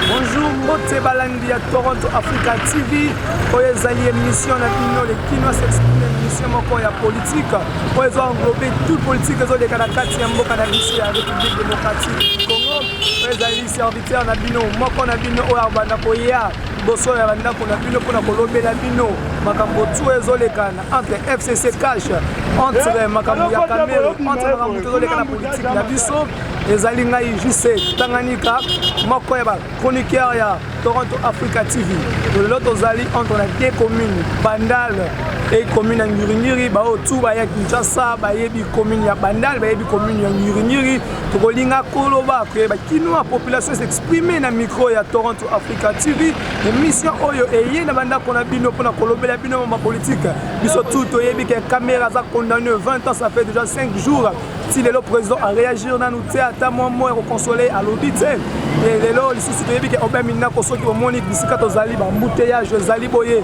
Bonjour mbote balandi ya Toronto Africa TV oyo ezali émission na bino le kinois s'exprime émission moko ya politique oyo ezo englobe tout politique ezoleka na kati ya mboka na biso ya République démocratique du Congo oyo ezali serviteur na bino moko na bino oyo abanda koya liboso ya bandako na bino mpona kolobela bino makambo tu ezolekana entre fcc cash entre makambo ya kamero entre makambo tu ezoleka na politike na biso ezali ngai jc tanganyika moko ya bachroniqueur ya toronto africa tv lelo tozali entre na de commune bandal e commune ya ngiringiri baoyo tu baya kinshasa bayebi commune ya bandal bayebi commune ya ngiringiri tokolinga koloba ke bakinois population s'exprime na micro ya toronto africa tv emission oyo eye na bandako na bino mpona kolobela bino ma bapolitike biso tu toyebi ke camera aza condamne 20 ans ça fait déjà 5 jours ti lelo président aréagir nanu te ata mwa mwa ya kokonsole alobi te lelo lisusu toyebi ke obemindako soki omoni bisika tozali bambuteyage ezali boye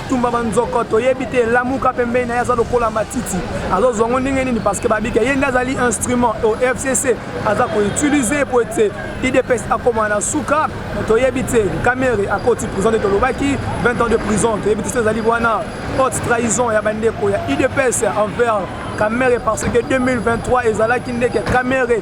tumba banzoko toyebi te lamuka pembeni na ye aza lokola matiti azozwa ngo ndenge nini parce que babika ye nde azali instrument au fcc aza koutilize po ete idps akoma na suka toyebi te kamere akoti prison nde tolobaki 20 ans de prison toyebi te so ezali wana haute trahison ya bandeko ya idps envers kamere parce que 2023 ezalaki ndeke kamere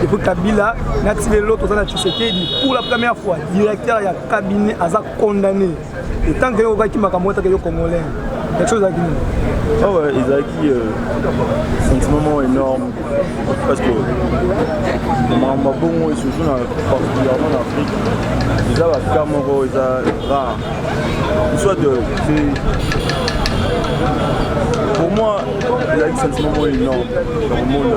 Depuis Kabila, nati lelo toza na Tshisekedi pour la première fois directeur ya cabinet aza condamné. Et tant que yokaki makambo ataka yo congolais. Quelque chose ezalaki nini? Ah ouais, ezalaki euh, sentiment moko énorme parce que makambo ya bongo et surtout na particulièrement na Afrique eza ba cas moko eza rare. Soit de pour moi ezalaki sentiment moko énorme na komona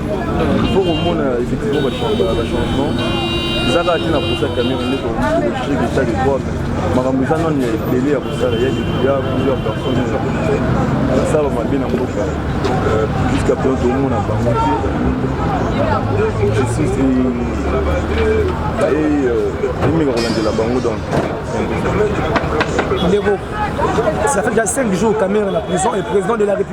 Il faut komona effectivement ba changement eza kaka te na posa cameroun nde tokokilogique eta de droit makambo eza nano ya ebele ya kosala ya ya plusieurs personnes basala mabe na mboka euh, jusqu'à présent tomona bango te justice emeka kolandela bango donc ndeko ça fait déjà 5 jours cameroun na prison et président de la république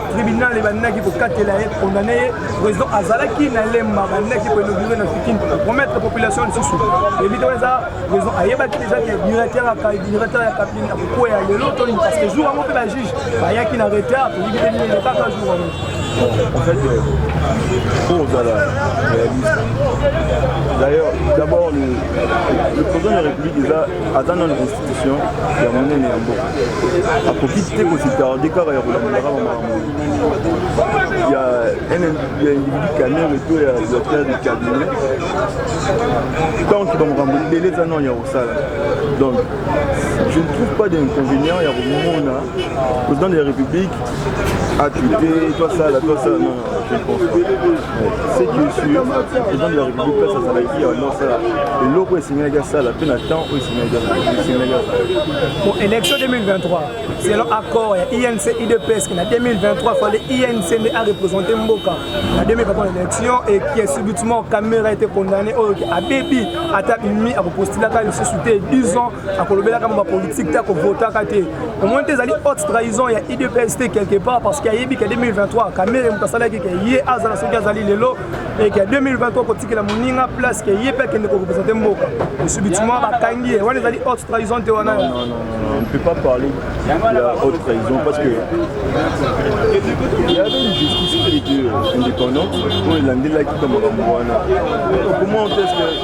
tribunal ebandaki kokatela ye kondane ye président azalaki na lemba bandaki koinaugure na fikin promettre population lisusu ebita wana eza président ayebaki deja ke directeur directeur ya kabine akokwea lelo toni parce que jour yango mpe bajuge bayaki na retard toyebi te nini elekaka jour yango en fait mpo euh, ozala réaliste d'ailleurs d'abord le président de la république eza aza nano ya monene ya mboka akoki te kositarde kaka ya kolandela kaka makambo ya individu kamere to ya directeur du cabinet tant que bamakambo ebele eza nano ya kosala donc je ne trouve pas d'inconvénient ya komona président de la république accupe to asala to asala Je pense pas. C'est qui est sûr, président de la République place azalaki ya non sala eloko esengelaki asala mpe na temps oyo esengelaki asala. Pour élection 2023, selon accord ya INC IDPS na 2023 fallait INC nde a représenter mboka na 2023 élection et qui est subitement Kamera a été condamné oyo abebi ata bimi akopostulaka lisusu te 10 ans akolobelaka mama politique te akovotaka te omoni te ezali haute trahison ya idps te quelque part parce que ayebi ke 2023 kamere moto asalaki ke ye azala soki azali lelo eke 2023 kotikela moninga place ke ye mpe akende korepresente mboka subitement bakangi ye wana ezali haute trahison te wana on ne peut pas parler de la haute trahison parce que il y avait une justice qui était indépendante oyo elandelaki kama makambo wana comment est-ce que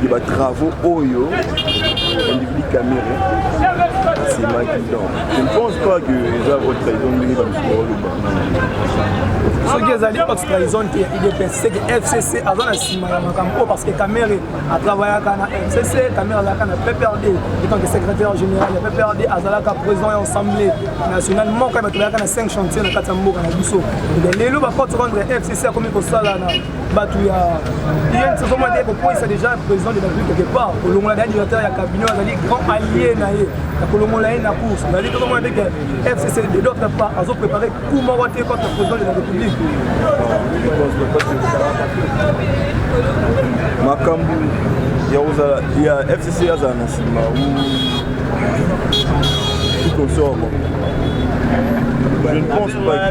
de ba travaux oyo individu camere asemaki donc je ne pense pas que eza haute trahison ndenge bato baoloba soki ezali haute trahison te ya idps seke fcc aza na nsima ya makambo oyo parce que camere atravayaka na fcc camere azalaka na pprd etanke secrétaire général ya pprd azalaka président ya assemblée nationale moko ya bato bayaka na 5 chantier na kati ya mboka na biso lelo baporte contre fcc akomi kosala na bato ya inc ezomona te kokwisa déjà président de la république quelque part kolongola da directeur ya cabinet azali grand allié na ye ya kolongola ye na course nali tozomona te ke fcc de d'autre part azo préparé coup moko te contre président de la république makambo ya kozala ya fcc azala na nsima ou tout comme ça je ne pense pas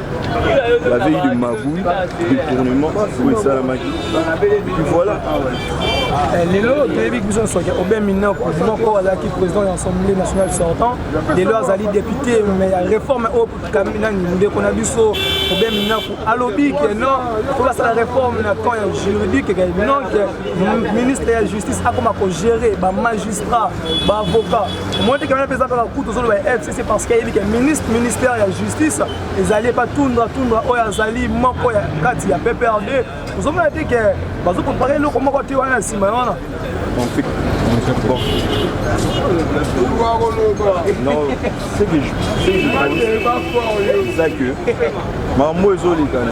la veille de magouille, détournement, oui, ça la magie. Puis voilà. Eh, lelo toyebi biso nyonso ke obe mineur moko azalaki président ya assemblée nationale sortant lelo azali député mais ya réforme oyo nani ndeko na biso obe minaku alobi ke non po basala réforme na camp ya juridique ke non ke ministre ya justice akoma kogérer bamagistrat baavocat omoni te ke wana mpe eza kaka kutu ozoloba c'est parce que ayebi ke ministre ministère ya justice ezali epa tundra tundra oyo azali moko ya kati ya pprd ozomona te ke bazokompaka eloko moko te wana ya nsima ya wana Non, c'est que je c'est que maman moi je l'ai quand même.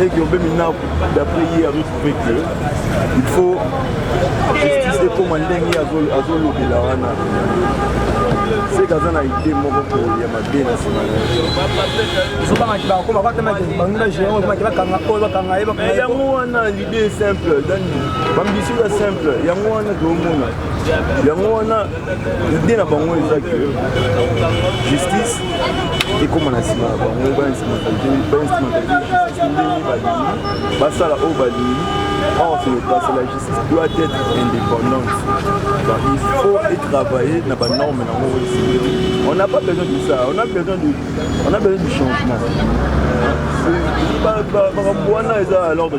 et que obemi na d'après ye aretrouve que il faut justice ekoma ndenge azolobela wana seke aza na ide moko koya mabe na nsima yango wana lide simple dani bambisio ya simple yango wana toomona yango wana idée na bango eza ke justice ekóma na nsima na bango basala oyo balingi or ce n'est pas la justice doit être indépendante donc il faut travailler na banorme na yango on n'a pas besoin de ça on a besoin de, on a besoin du changement makambo wana eza à l'ordre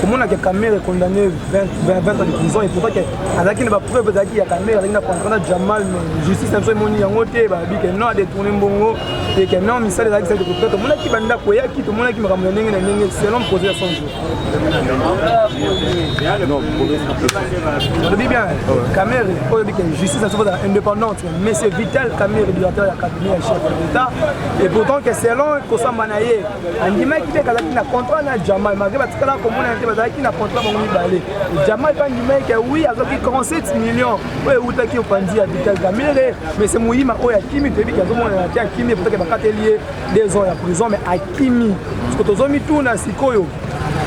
komona ke kamere condamné 20 ans de prison et pourtant ke azalaki na bapreuve ezalaki ya kamere azalaki na contrat na jamal mais justice na biso emoni yango te babi ke non adetourne mbongo te ke non misala ezalaki sali kopita tomonaki bandako eyaki tomonaki makambo ya ndenge na ndenge selon projet ya 100 jours olobi bien kamere oyo bi ke justice na biso kozala indépendante mais c'est vital kamere directeur ya cabinet ya chef de l'état et pourtant ke selon kosamba na ye andimaki te kazalaki na contrat na jamal malgré batikalaka komonana te bazalaki na contrat bango mibale jamal mpe andimaki ke wi azwaki 37 million oyo ewutaki opanzi ya vital gamere mais se moyima oyo akimi toyebi ke azomonana te akimi epotaki bakateli ye deux ans ya prison mais akimi siko tozomituna sikoyo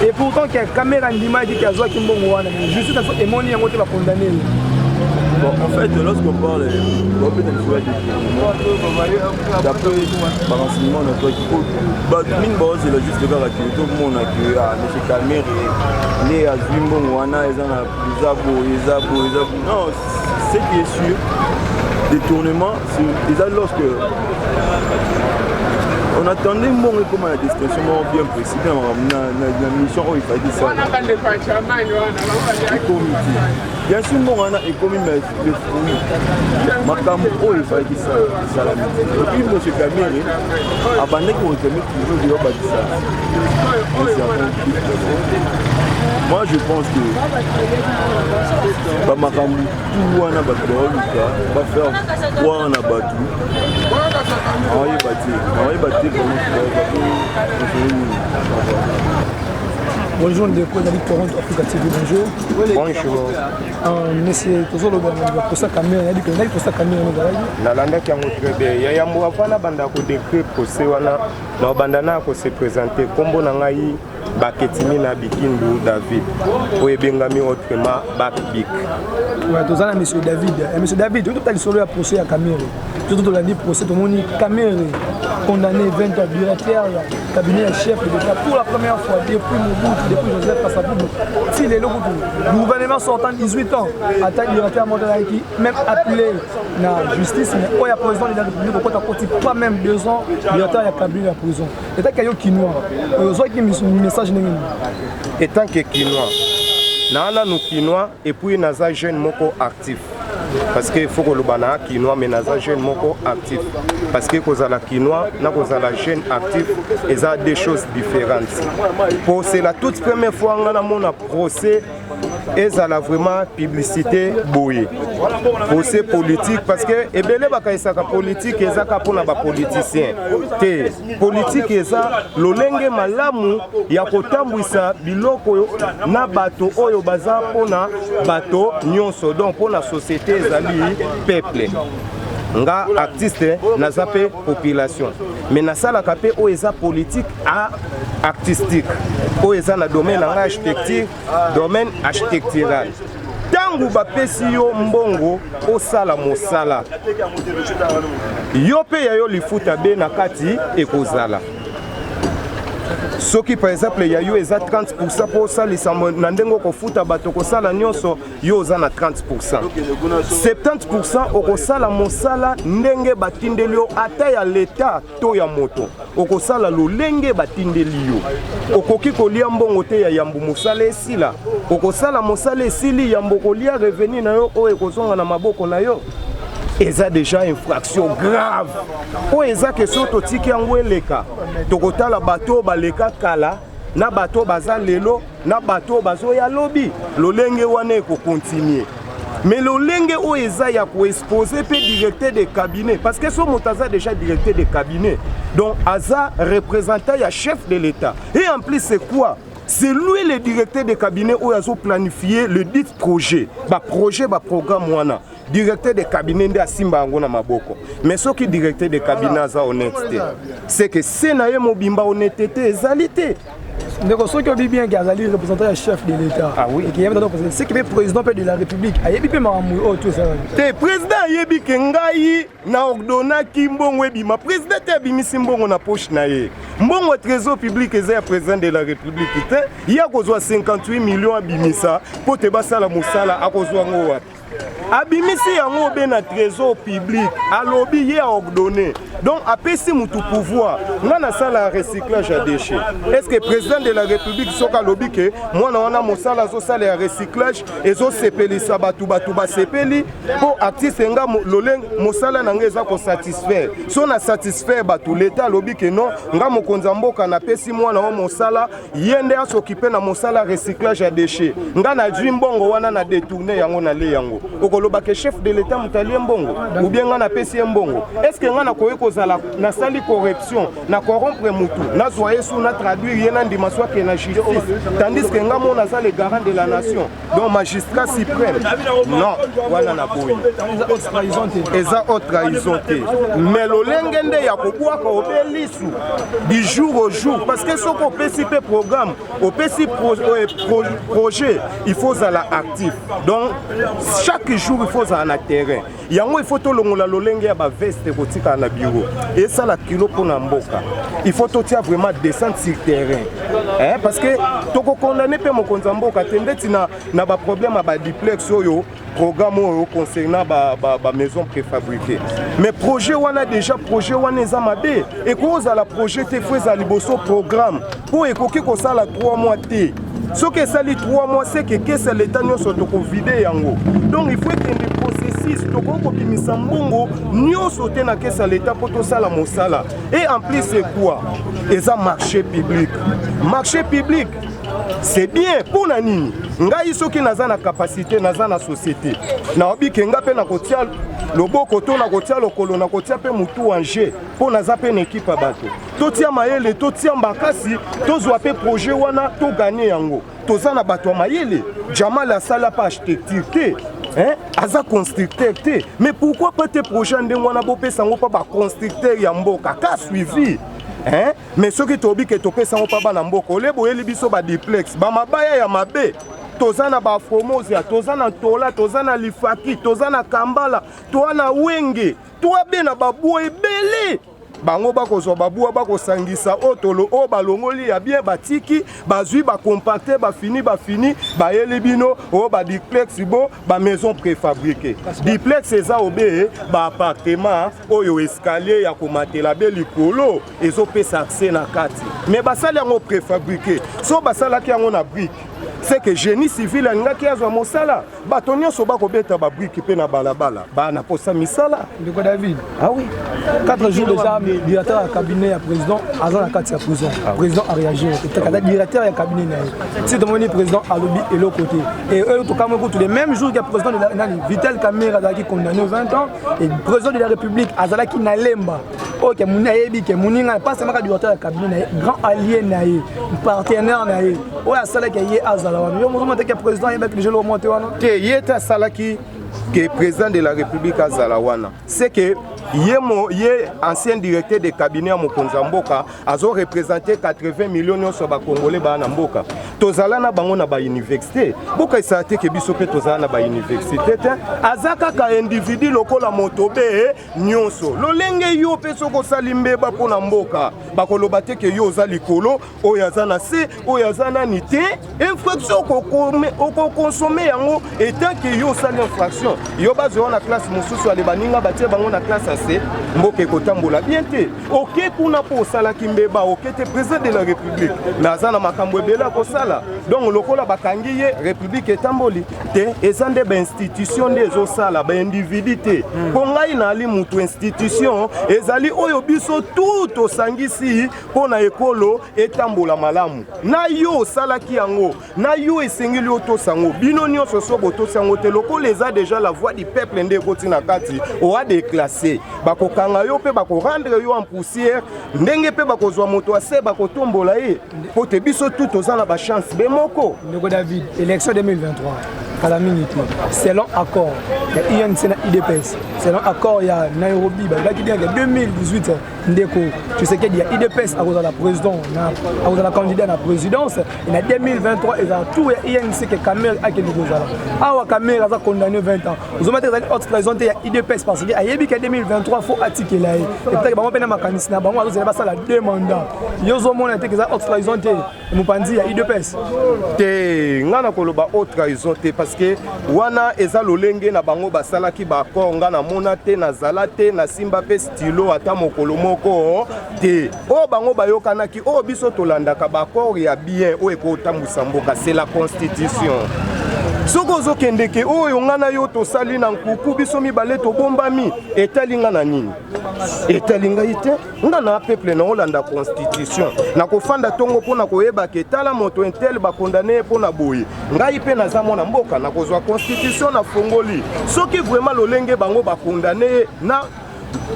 et pourtant ke kamera andimaki ke azwaki mbongo wana mais justice aso emoni yango te bakondane ye Bon, en fait, lorsqu'on parle, on peut d'après ba renseignement na toaki po bato mingi baozela juste kaka ke tomona ke a ah, monsieur kamere nde azwi mbongo wana eza na eza boye eza boye eza boye non ce qui est sûr détournement eza lorsque on attendait mbongo ekoma na destination moko bien précis na makambo na mission oyo efaki sala ekomi te bien sûr mbongo wana ekomi mais le fruit makambo oyo ezalaki esalami epuis monsieur kamere abandaki koreklame toujours de babakisa moi je pense que bamakambo tout wana bato baoluka bafaire croire na bato awayeba te awayeba te bonjour ndeko ezali toronto africa tv bonjour bonjour nalandaki yango très bien ya yambo avant nabanda kodecre procès wana nabanda na kose présente nkombo na ngai baketimi na bikindu david oyo ebengami autrement bakbik toza na monsieur david eh, monsieur david oyo tota lisolo ya procès ya camere Surtout tolandi procès tomoni Kamerhe condamné 20 ans directeur ya cabinet ya chef de l'État pour la première fois depuis Mobutu depuis Joseph Kasavubu ti lelo kutu gouvernement sortant 18 ans ata directeur moko azalaki même appelé na justice mais oyo ya président de la République okota koti pas même deux ans directeur ya cabinet ya prison etaki yo kinois oyo ozwaki message ndenge nini etant que kinois naa nanu kinois epuis naza jeune moko actif parce que faut koloba na kinois mais naza jeune moko actif parce que kozala kinois na kozala jeune actif eza deux choses différentes po c'est la toute première fois nga namona procès ezala vraiment publicité boye procès politique parce que ebele bakanisaka politique ezaka mpona bapoliticien te Politiki eza lolenge malamu ya kotambwisa biloko na bato oyo baza mpo na bato nyonso, donc mpo na societe ezali peuple nga artiste naza mpe population mais nasalaka mpe oyo eza politique a artistique oyo eza na domaine na ngai architecture domaine architectural ntango bapesi yo mbongo osala mosala yo mpe ya yo lifuta be na kati ekozala soki par exemple ya yo eza 30 pourcent mpo osalisa na ndenge okofuta bato okosala nyonso yo oza na 30 pourcent 70 pourcent okosala mosala ndenge batindeli yo ata ya leta to ya moto okosala lolenge batindeli yo okoki kolia mbongo te ya yambo mosala esila okosala mosala esili yambo kolia revenu na yo oyo ekozonga na maboko na yo eza deja infraction grave oyo eza ke soki totiki yango eleka tokotala bato oyo baleka kala na bato baza lelo na bato bazoya lobi lolenge wana ekokontinue mais lolenge oyo eza ya koexpose mpe directeur de cabinet parce que so moto aza déjà directeur de cabinet donc aza représentant ya chef de l'état et en plus c'est quoi c'est lui le directeur de cabinet oyo azoplanifie le dit projet baprojet baprogramme wana directeur de cabinet nde asimba yango na maboko mais soki directeur de cabinet aza honnête te c'est que se na ye mobimba honnêteté ezali te ndeko soki obi bien ke azali représentant ya chef de l'état ah seki mpe président mpe de la république ayebi mpe makambo oyo tu esalaki te président ayebi ke ngai na ordonnaki mbongo ebima président te abimisi mbongo na poche na ye mbongo trésor public eza ya président de la république te ye akozwa 58 millions abimisa mpo te basala mosala akozwa yango wapi abimisi yango obe na trésor public alobi ye aordonne donc apesi motu pouvoir nga nasala recyclage ya déchet est ce que président de la république soki alobi ke mwana wana mosala azosala ya recyclage ezosepelisa bato bato basepeli mpo artiste nga lolenge mosala na nga eza kosatisfaire so na satisfaire bato leta alobi ke non nga mokonzi ya mboka napesi mwana wa mosala ye nde asokipe na mosala recyclage ya déchet nga nazwi mbongo wana na détourne yango nale yango okoloba ke chef de l'état moto alie mbongo ubie nga napesi ye mbongo estce nga nakoki kozala nasali corruption na corrompre motu nazwa ye su na traduire ye na ndima swake na justice tandis ke nga mona aza le garant de la nation donc magistrat suprême non wana na boyi eza haute trahison te mais lolenge nde ya kobwaka obe lisu du jour au jour parce que soki opesi mpe programme opesi pro, euh, pro, projet il faut ozala actif donc chaque jour il faut ozala na terrain yango il faut tolongola lolenge ya baveste kotikala na bureau esala kilo mpo na mboka il faut totia vraiment descente sur terrain eh, parce que tokokondane mpe mokonzi ya mboka te ndeti na, na baproblème ya badiplex oyo programme oyo concernant bamaison préfabriqué mais projet wana déjà projet wana eza mabe ekoki kozala projet te fo ezala liboso programme mpo ekoki kosala 3 mois te soki esali 3 mois seke kesa leta nyonso tokovide yango donc il faut ekende processus tokoki kobimisa mbongo nyonso te na kesa leta mpo tosala mosala et en plus c'est quoi eza marché public marché public c'est bien mpo na nini ngai soki naza na kapasité naza na société naobi ke ngai mpe nakotia loboko to nakotia lokolo nakotia mpe motu en jeu mpo naza mpe na ekipe ya bato totia mayele totia makasi tozwa mpe projet wana toganye yango toza na bato ya mayele jamal asala mpe architecture te Hein? aza constructeur te mais pourquoi pas te projet ya ndenge wana bopesa yango mpa baconstructeur ya mboka ka suivi Hein? mais soki toyebi ke topesa yango mpa bana mboka ole boyeli biso badiplex bamabaya ya mabe toza na baformosia toza na ntola toza na lifaki toza na kambala toa na wenge toa be na babwa ebele bango bakozwa babua bakosangisa otolo oyo balongoli ya bien batiki bazwi bacompacte bafini bafini bayeli bino oyo badiplex bo bamaison préfabriqué diplex eza obe baappartement oyo escalier ya komatela be likolo ezopesa accès na kati me basali yango préfabriqué so basalaki yango na brike seke génie civil alingaki azwa mosala bato nyonso bakobeta babrike mpe na balabala baa na posa misala ndeko david ah oui 4 jours déjà directeur ya cabinet ya président aza na kati ya prison ah président aréagir etekata directeur ya cabinet na ye ti tomoni président alobi eloko te e oyo tokamwe kutu le même jour ya président nani vital camere azalaki condamné 20 ans et président de la république azalaki na lemba oyo ke moni ayebi ke moninga mpasi amaka diwata ya kabine na ye grand allié na ye partenaire na ye oyo asalaki ye azala wana yo mozoma te ke président ayebaki déjà lomo te wana te ye te asalaki ke président de la république azala wana c'est que ye, mo, ye ancien directeur de cabinet ya mokonzi ya mboka azo représente 80 million nyonso ya bakongole baa na mboka tozala na bango na bauniversité bokaisaka te ke biso mpe tozala na bauniversité te aza kaka individu lokola moto be nyonso lolenge yo mpe soki osali mbeba mpo na mboka bakoloba te ke yo oza likolo oyo aza na se oyo aza nani te infraction okokonsome yango etant ke yo osali infraction yo bazwa na classe mosusu ale baninga batie bango na classe ya se mboka ekotambola bien te oke kuna mpo osalaki mbeba oke te président de la république mais aza na makambo ebele akosala donc lokola bakangi ye république etamboli te eza nde bainstitution nde ezosala baindividu te mpo hmm. ngai naali motu institution ezali oyo biso tu tosangisi mpo na ekolo etambola malamu na yo osalaki yango na yo esengeli otosa yango bino nyonso so botosi yango te lokola eza deja la voix du peuple nde ekoti na kati oa deklasse bakokanga yo mpe bakorendre yo en poussière ndenge mpe bakozwa moto ase bakotombola ye mpo te biso tu toza na bachance be moko ndeko david élection 2023 kala mingi te selon accord ya inc na idps selon accord ya nairobi balobaki bien ke 2018 ndeko tshisekedi ya idps akozala président na akozala candidat na présidence na 2023 ezala tour ya inc e ke camere akende kozala awa camere aza condamné 20 ans ozoma te ezali haute trahison te ya idps parce que ayebi ke 2023 fo atikela ye epetaki bango mpe na makanisi na bango azozela basala deux mandat yo ozomona te ke eza haute trahison te mopanzi ya udps te ngai nakoloba o trahison te parce que wana eza lolenge na bango basalaki baaccord ngai namona te nazala te nasimba mpe stylo ata mokolo moko te oyo bango bayokanaki oyo biso tolandaka baaccord ya bien oyo ekotambwisa mboka c'est la constitution soki ozokendeke oyo ngai na yo tosali na nkuku biso mibale tobombami etali ngai na nini etali ngai te nga na peuple na olanda constitution na kofanda tongo mpo na koyeba ke tala moto intel bakondane ye mpo na boye ngai mpe naza mwana mboka na kozwa constitution na fongoli soki vraiment lolenge bango bakondane ye na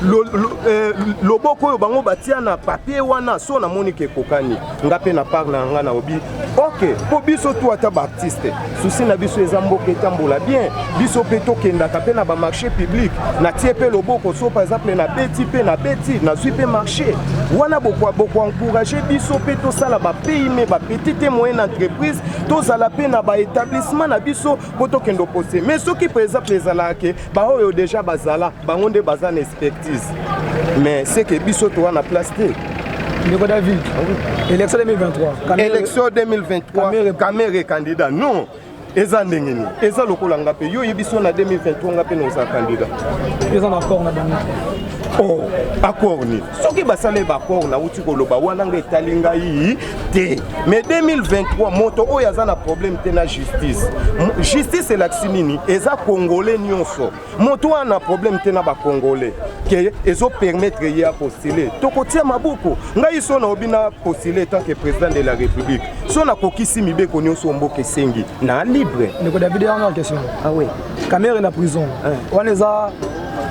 lo, lo, eh, loboko oyo bango batia na papier wana so namoni ke ekokani nga mpe na part na nga naobi ok mpo biso tu ata baartiste susi na biso eza mboka etambola bien biso mpe tokendaka mpe na bamarché public natie mpe loboko so par exemple nabeti mpe nabeti nazwi mpe marché wana bokoencourage biso mpe tosala bapayme bapetite moyenne entreprise tozala mpe na baétablissement na biso po tokende opose mais soki par exemple ezalaka ke baoyo deja bazala bango nde baza na expertise mais seke biso toa na place te ndeko david élection 2023 élection 2023 kamere candidat non eza ndenge nini eza lokola nga mpe yo oyebi so na 2023 nga mpe naoza candidat eza na accord na bango oh accord nini soki basali baaccord nauti koloba wana nga etali ngai te mais 2023 moto oyo aza na problème te na justice justice elakisi nini eza congolais nyonso moto oyo na problème te na bacongolais ke ezopermettre ye apostule tokotia maboko ngai so naobi na postule tant que président de la république so nakokisi mibeko nyonso mboka esengi na libre ndeko david yango question ah oui camere na prison wana eza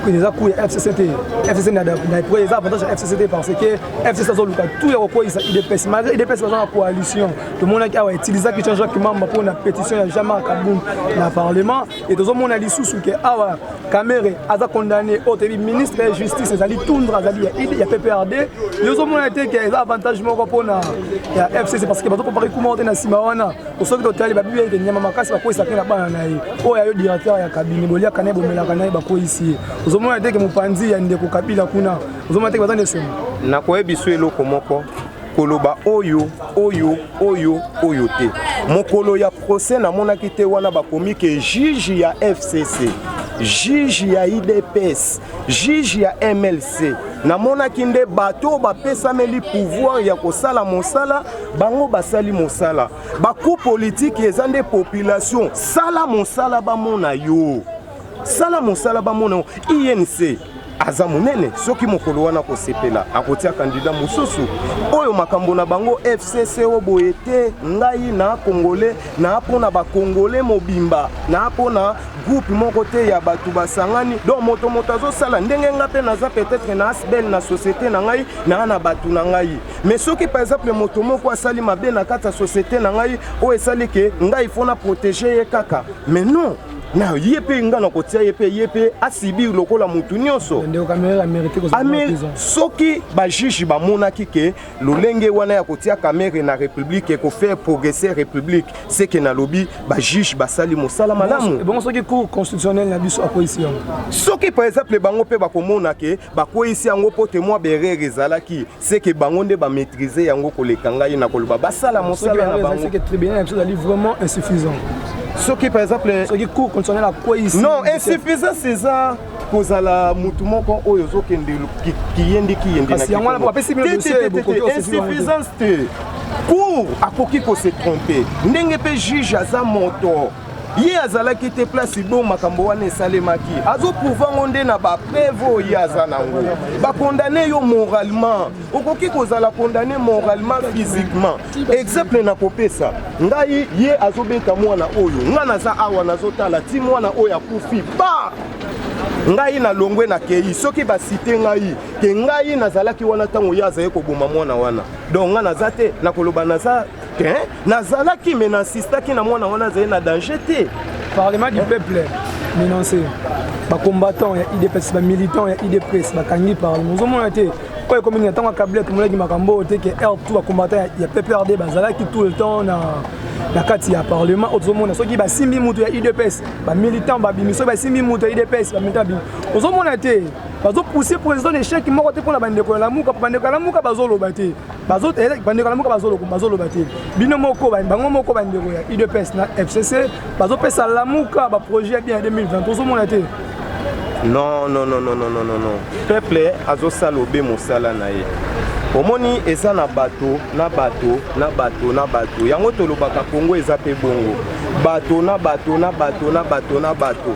eza cour ya fcc te fcc na epre eza avantage ya fcc te parce que FCC azoluka tout ya kokweyisa UDPS malgré UDPS baza na coalition tomonaki awa utilisaki Jean Jacques Mamba mpo na pétition ya Jean-Marc Kabund na parlement et tozomona lisusu ke awa Kamere aza condamné oyo toyebi ministre ya justice ezali Tundra azali ya PPRD yo ozomona te ke eza avantage moko mpo na ya FCC parce que bazopropare kuma te na nsima wana osoki totali babibi ete nyama makasi bakweyisa mpe na bana na ye oyo ayo directeur ya kabine boliaka na ye bomelaka na ye bakweyisi ye ozomona te ke mopanzi ya ndeko Kabila kuna ozomona teke baza na esengo nakoyebi so eloko moko koloba oyo oyo oyo oyo te mokolo ya procès namonaki te wana bakomi ke juge ya fcc juge ya idps juge ya mlc namonaki nde bato oyo bapesameli pouvoir ya kosala mosala bango basali mosala baku politiki eza nde population sala mosala bamona yo sala mosala bamona yo inc aza monene soki mokolo wana akosepela akotia kandida mosusu oyo makambo na bango fcc o boye te ngai na kongole na mpona bakongole mobimba na mpona groupe moko te ya bato basangani donc moto moto azosala ndenge ngai mpe naza peut-être na asbel na société na ngai naa na bato na ngai mais soki par exemple moto moko asali mabe na kati ya société na ngai oyo esali ke ngai ifo na protege ye kaka mais non na ye mpe nga na kotia ye mpe ye mpe asibir lokola motu nyonso soki bajuge bamonaki ke lolenge wana ya kotia kamere na république ekofaire progresser république seke nalobi bajuge basali mosala malamu soki par exemple bango mpe bakomona ke bakweisi yango mpo te mwa berere ezalaki c'est que bango nde ba maîtriser yango koleka ngai na koloba basala mosala na bango c'est que tribunal yango ezali vraiment insuffisant soki par exemple soki cour constitutionnel akweyisi non insuffisant césar kozala motu moko oyo ozokende kiyende kiyendesuffisance te cour akoki kose trompe ndenge mpe juge aza moto ye azalaki te place bo makambo wana esalemaki azoprouva ngo nde na bapreve oyo ye aza nango bakondane yo moralement okoki kozala kondane moralement physiquement exemple na kopesa ngai ye azobeta mwana oyo ngai naza awa nazotala ti mwana oyo akufi ba ngai nalongwe na kei soki basite ngai ke ngai nazalaki wana ntango ye azali koboma mwana wana donc ngai naza te nakoloba naza te nazalaki me na insistaki na mwana wana azali na danger te parlement du peuple menance bacombattant ya idps bamilitant ya idps bakangi parlement ozomona te oyo ekomi na ntango ya kabila tomonaki makambo oyo te ke heure tout bacombattant ya pprd bazalaki tout le temps na na kati ya parlement oyo tozomona soki basimbi moto ya udps bamilitant babimi soki basimbi moto ya udps bamilitant babimi ozomona te bazopousse président na échec moko te mpo na bandeko ya lamuka mpo bandeko ya lamuka bazoloba te bandeko na moko bazoloba te bino moko bango moko bandeko ya udps na fcc bazopesa lamuka baprojet ya bien ya 2020 ozomona te non non non non non non non peuple azosala obe mosala na ye omoni eza na bato na bato na bato na bato yango tolobaka kongo eza mpe bongo bato na bato na bato na bato na bato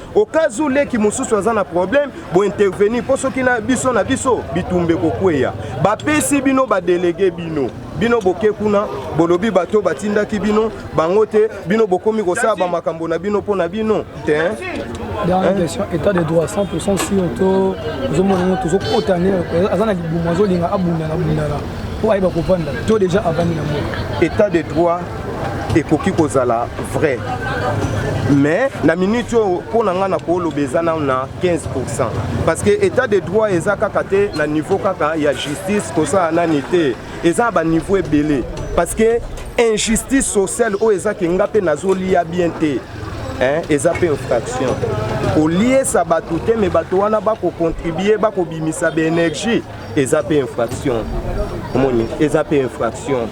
okazu leki mosusu aza na problème bointervenir mpo soki na biso na biso bitumba ekokweya bapesi bino badelege bino bino boke kuna bolobi bato batindaki bino bango te bino bokomi kosala bamakambo na bino mpo na bino te dernière question état de droit 100 sur to ozomona ngo tozokota ne aza na libumu azolinga abundana bundana mpo ayeba kovanda to déjà avandi na mboka état de droit ekoki kozala vrai mais na minute oyo mpo na ngai nakoloba eza nano na 15 pourcent parce que état de droit eza kaka te na niveau kaka ya justice kosala nani te eza na baniveau ebele parce que injustice sociale oyo ezaki nga mpe nazolia bien te hein, eza mpe infraction koliesa bato te me bato wana bakocontribue bakobimisa baenergie eza mpe infraction omoni eza mpe infraction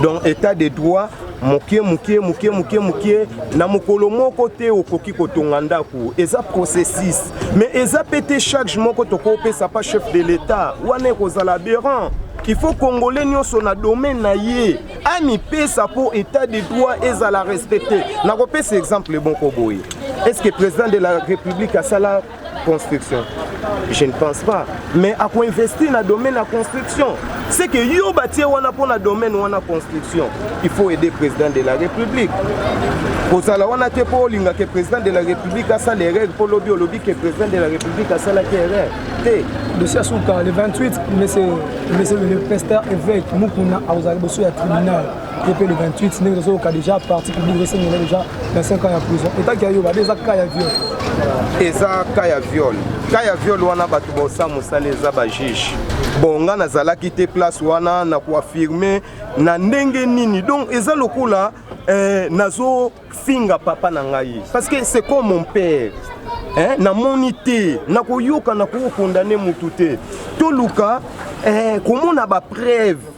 donc état de droit moke moke moke moke moke na mokolo moko te okoki kotonga ndako eza processus mais eza mpe te charge moko tokopesa pa chef de l'état wana ekozala aberrant il faut congolais nyonso na domaine na ye amipesa mpo état de droit ezala respecte nakopesa exemple moko boye est ce que président de la république asala construction je ne pense pas mais akoinvestir na domaine ya construction c'est que yo batie wana mpo na domaine wana construction il faut aider président de la république kozala wana te mpo olinga ke président de la république asala erreur mpo lobi olobi ke président de la république asalaki erreur te dossier asuka le 28 monsieur le pasteur évêque mukuna akozala liboso ya tribunal ye mpe le 28 ndenge tozoyoka déjà parti public ezosengela déjà 25 ans ya prison etaki ya yo bade eza cas ya viol eza cas ya viol cas ya viol wana bato bosa mosala eza bajuge bon nga nazalaki te place wana na koafirme na ndenge nini donc eza lokola eh, nazo finga papa na ngai parce que c'est comme mon père eh, namoni te nakoyoka nakokondane motu te toluka eh, komona bapreuve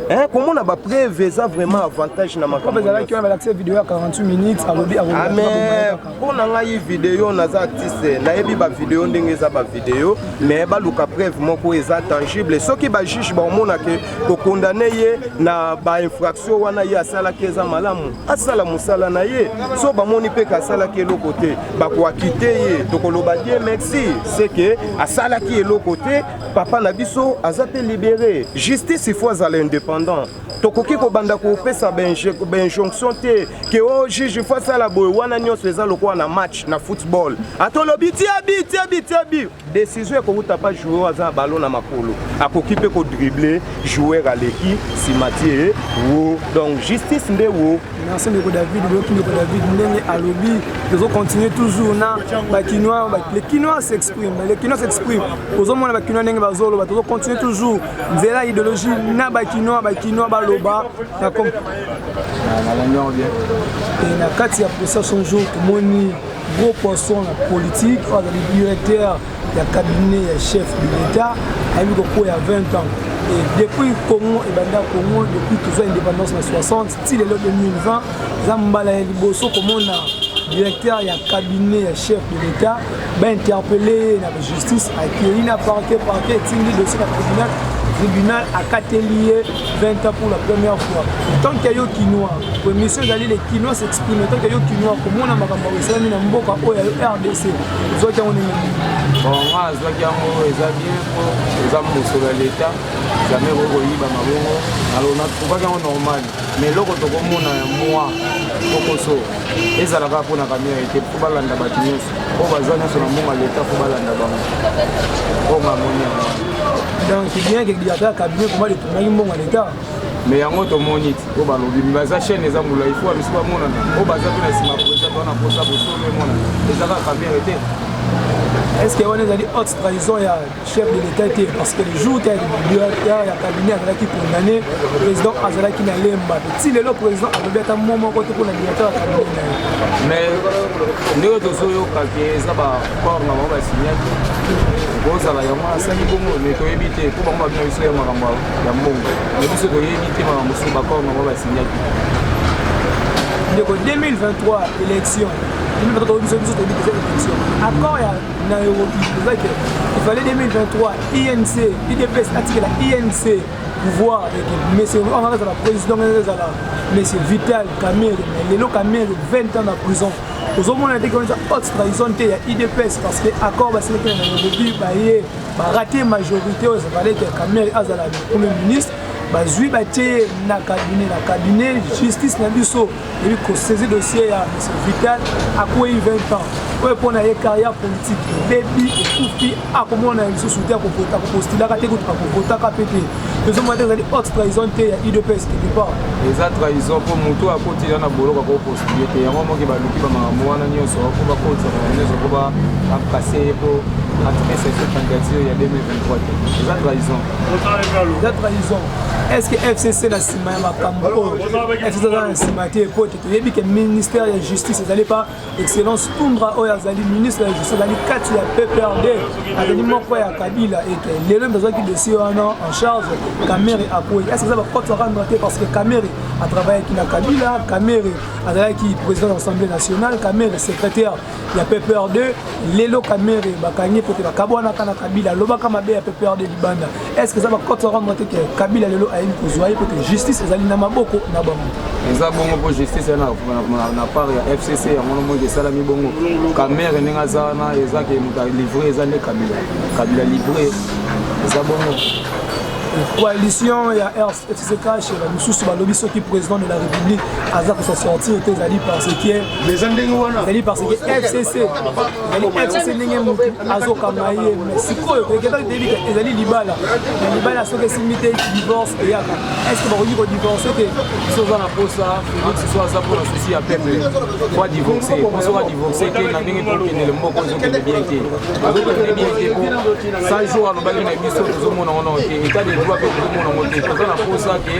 Eh, komona bapreuve eza vraiment avantage na makamboezalaki wana balakisa video ya 48 minutes alobi ame ah, mpo na ngai video naza artiste nayebi bavideo ndenge eza bavideo mais baluka preuve moko eza tangible soki bajuge baomonake kokondane ye na bainfraction wana ye asalaki eza malamu asala mosala na ye so bamoni mpe kasalaki eloko te bakoakite ye tokoloba die merci seke asalaki eloko te papa na biso aza mpe libere justice il faut azala indépendant tokoki kobanda kopesa bainjonction te ke o oh, juge fo asala boye wana nyonso eza lokola na match na football atolobi tiabi tiabi tiabi Decision ekowuta pa joueur aza na ballon na makolo akoki mpe ko dribbler joueur aleki nsima tie wo donc justice nde wo merci ndeko david boyoki ndeko david ndenge alobi tozo continue toujours na bakinois le kinois s'exprime le kinois s'exprime ozomona bakinois ndenge bazoloba tozo continue toujours nzela idéologie na bakinois bakinois baloba na kati ya posa son jour tomoni gros poisson na politique oyo azali directeur ya cabinet ya chef de l'état ayebi kokoya 20 ans et depuis congo ebanda congo depuis tozwa indépendance na 60 ti lelo 2020 eza mbala ya liboso komona directeur ya cabinet ya chef de l'état bainterpele ye na justice akei na parquet parquet etindi dossier na tribunal tribunal akateli ye 20 ans pour la première fois tant que yo kinois po émission ezali le kinois s'exprime tant que yo kinois komona makambo esalami na mboka oyo ya yo rdc ozwaki yango ndenge nini bon nga azwaki yango eza bien po eza mosolo ya leta jamais ekoki koyiba mabongo alors natruvaki yango normal mais eloko tokomona ya mwa kokoso ezalaka mpo na kamera ete mpo balanda bato nyonso oyo baza nyonso na mbongo ya leta mpo balanda bango oyo mamoni yango donc c'est bien que diata cabinet comment epungaki mbongo ya leta mais yango tomoni ti oyo balobi mi baza chaîne eza mbula ifo bamisi bamonana oyo baza mpe na nsima poeza bana mposa bosolo emonana ezaka kamere te est ce que wana ezali haute trahison ya chef de l'état te parce que le jour te directeur ya cabinet azalaki condamné président azalaki na lemba ti lelo président alobi ata mo moko te mpona directeur ya cabinet na ye mais ndenge tozoyoka ke eza bacorps na bango basignaki kozala yango asali bongo mais toyebi te mpo bango babina biso ya makambo ya mbongo me biso toyebi te makambo mosusu bacorps na bango basignaki ndeko 2023 élection 2023 biso toyebi eza élection accord ya na Europe eza ke il fallait 2023 INC IDPS atikela INC pouvoir eke monsieur oyo anga azala président anga ezala monsieur Vital Kamerhe mais lelo Kamerhe 20 ans na prison ozomona te kionisa haute trahison te ya idps parce que accord basilaki na nairobi baye barate majorité oyo ezalaki ya kamere azala premier ministre bazwi batie na cabinet na cabinet justice na biso ebi kosaisie dossier ya monsieur vital akwei 20 ans oyo mpo na ye carrière politique ebebi ekufi akomona ye lisusu te akokota akopostulaka te kutu akokotaka mpe te tozomona te ezali haute trahison te ya udps quelque part eza trahison mpo motu oyo akotila na boloko akopostule te yango moke baluki bamakambo wana nyonso mpo bakotisaka na nyonso mpo bakase ye mpo atrese so candidature ya 2023 te eza trahison eza trahison est ce que fcc na nsima ya makambo oyo fcc aza na nsima te mpo ete toyebi ke ministère ya justice ezali pa excellence tundra oyo azali ministre ya justice azali kati ya pprd azali moko ya kabila ete lelo mpe azwaki dossier wana en charge kamere akwei ese eza baporte arendre te parce que kamere atravaillaki na kabila kamere azalaki président ya assemblée nationale kamere secrétaire ya PPRD lelo Kamerhe bakangi pote bakabwanaka na Kabila alobaka mabe ya PPRD libanda est-ce que eza bakote ya rendre te ke Kabila lelo ayebi kozwa ye pote justice ezali na maboko na bango eza bongo mpo justice ya na part ya FCC yango nomoi esalami bongo Kamerhe ndenge aza wana eza ke moto livre eza nde Kabila Kabila livre eza bongo coalition ya Etize kashe ba misusu balobi soki président de la république aza kosa sortir te ezali parce que eza ndenge wana ezali parce que fcc ezali fcc ndenge motu azokanga ye mais sikoyo toyeketaki toyebi te ezali libala na libala soki esimbi te divorce eyaka est ce que bakoki kodivorce te biso oza na posa félix so aza mpo na souci ya peuple po adivorce po soki adivorce te na ndenge tokendele mboko ezokende bien te ezokende bien te po 100 jour alobaki na biso tozomona wana etat de droit mpe tokomona ngo te toza na posa ke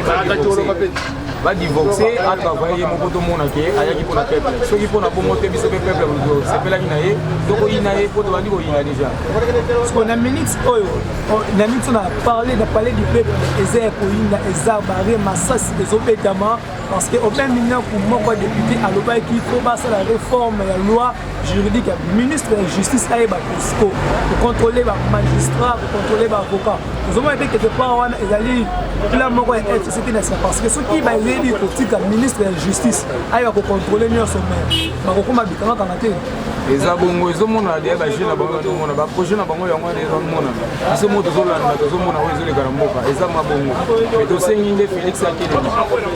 badivorce atravaille ye moko tomona ke ayaki mpo na peuple soki mpo na bongo te biso mpe peuple tosepelaki na ye tokoyina ye mpo tobandi koyina deja siko na minute oyo oh, na minute na parle na palais du peuple eza ya koyina eza bare masasi ezobetama Parce que au même moment que moko député alobaki qu'il faut passer la réforme la loi juridique ministre de la justice aye ba Cusco pour contrôler ba magistrats pour contrôler ba avocats nous avons été quelque part wana ezali plan moko ya FCT na parce que ceux qui ba yebi ko tika ministre de la justice aye ba ko contrôler nionso mais ba ko koma bikanga kanga te eza bongo ezomonana deya baje na bango bazomona baprojet na bango yango wana ezomona biso mo tozolanda tozomona oyo ezoleka na mboka eza mwa bongo me tosengi nde félix atelema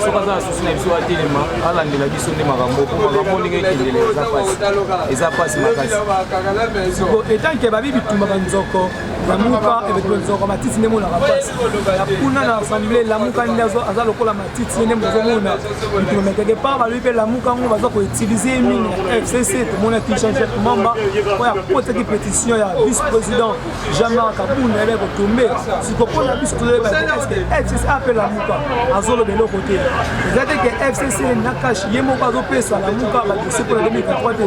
soki aza na susi na biso atelema alandela biso nde makambo po makambo ndenge ekendele eza pasi eza pasi makasi etanke babi bitumaka nzoko lamuka ebetolo nzoko matisi nde monaka pasi na kuna na assemblée lamuka nde aza lokola titi nde mozomona diplome quelque part balobi mpe lamuka yango baza koutilize ye mingi na fcc tomonaki jean jacques mamba oyo akotaki pétition ya vice président jean marc kabunda yebe kotombe siko mpo na biso tozoyeba te eske fcc ape lamuka azoloba eloko te eza te ke fcc na kashi ye moko azopesa lamuka badosie mpo na 2023 te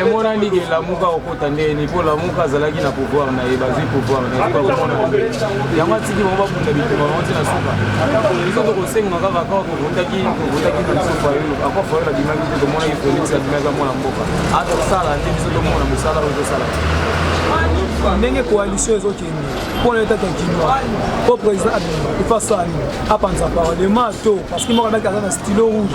emonani ke lamuka okota nde ni mpo lamuka azalaki na pouvoir na ye bazwi pouvoir na ye bakomona yango atiki bango babunda bitumba bango ti na suka biso tokosenga kaka kaka kovotaki kovotaki na biso fayulu ako fayulu abimaki te tomonaki felix abimaki mwana mboka atosala nde biso tomona mosala oyo tosala ndenge coalition ezokende mpo na etata kinois mpo président abima ifasani apanza parlement to parce que moko abaki aza na stylo rouge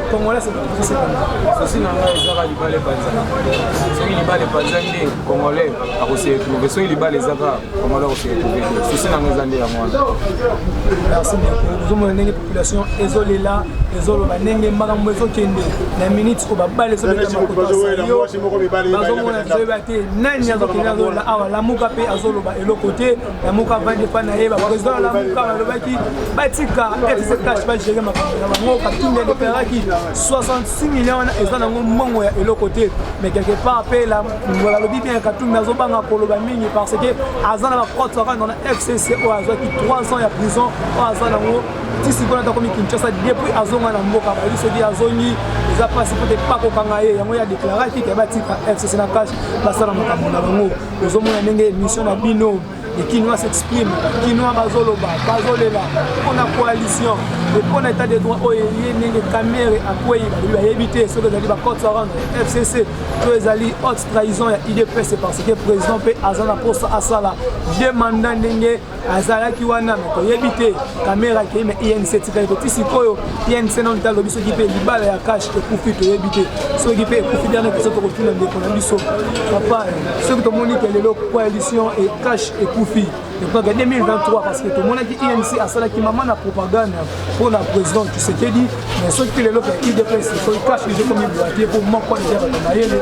Congolais c'est pour ça. Ceci n'a pas les arabes libale panza. Soki libale panza nde congolais akose retrouver. Soki libale ezaka congolais akose retrouver. Ceci n'a pas les yango wana. Merci beaucoup. Nous avons une population ezolela ezoloba ndenge makambo ezokende na minute oyo babale ezobetamakotasayoazomona toyeba te nani azokende azolola awa lamuka mpe azoloba eloko te lamuka avandi epai na ye bapresident ya lamuka balobaki batika fzcash bagere makambo na bango katumbi adeperaki 66 million wana eza nango mbongo ya eloko te mais quelque part mpe balobi bien katumbi azobanga koloba mingi parce que aza na bacote kaka na fcc oyo azwaki 3 ans ya prison oyo aza nango ti sikoyo ata komi kinshasa depuis azonga na mboka bayebi soki azongi eza mpasi mpo te pakokanga ye yango ye adeklaraki ke batika fcc na cash basala makambo na bango ozomona ndenge émission na bino les kinois s'exprime kinois bazoloba bazolela mpo na coalition e mpo na état de droit oyo eye ndenge camere akwei balobi bayebi te soki ezali bacote around fcc to ezali haute trahison ya idps parce que président mpe aza na mposa asala de mandat ndenge azalaki wana me toyebi te kamera akei me inc etikali te ti sikoyo inc nano ta alobi soki mpe libala ya cash ekufi toyebi te soki mpe ekufi biana biso tokotuna ndeko na biso papa soki tomoni ke lelo coalition e cash ekufi ekokaka 2023 parce que tomonaki inc asalaki mama na propagande mpo na président tshisekedi mais soki mpe lelo mpe idps soki cash ezokomi boite mpo moko deja bato mayele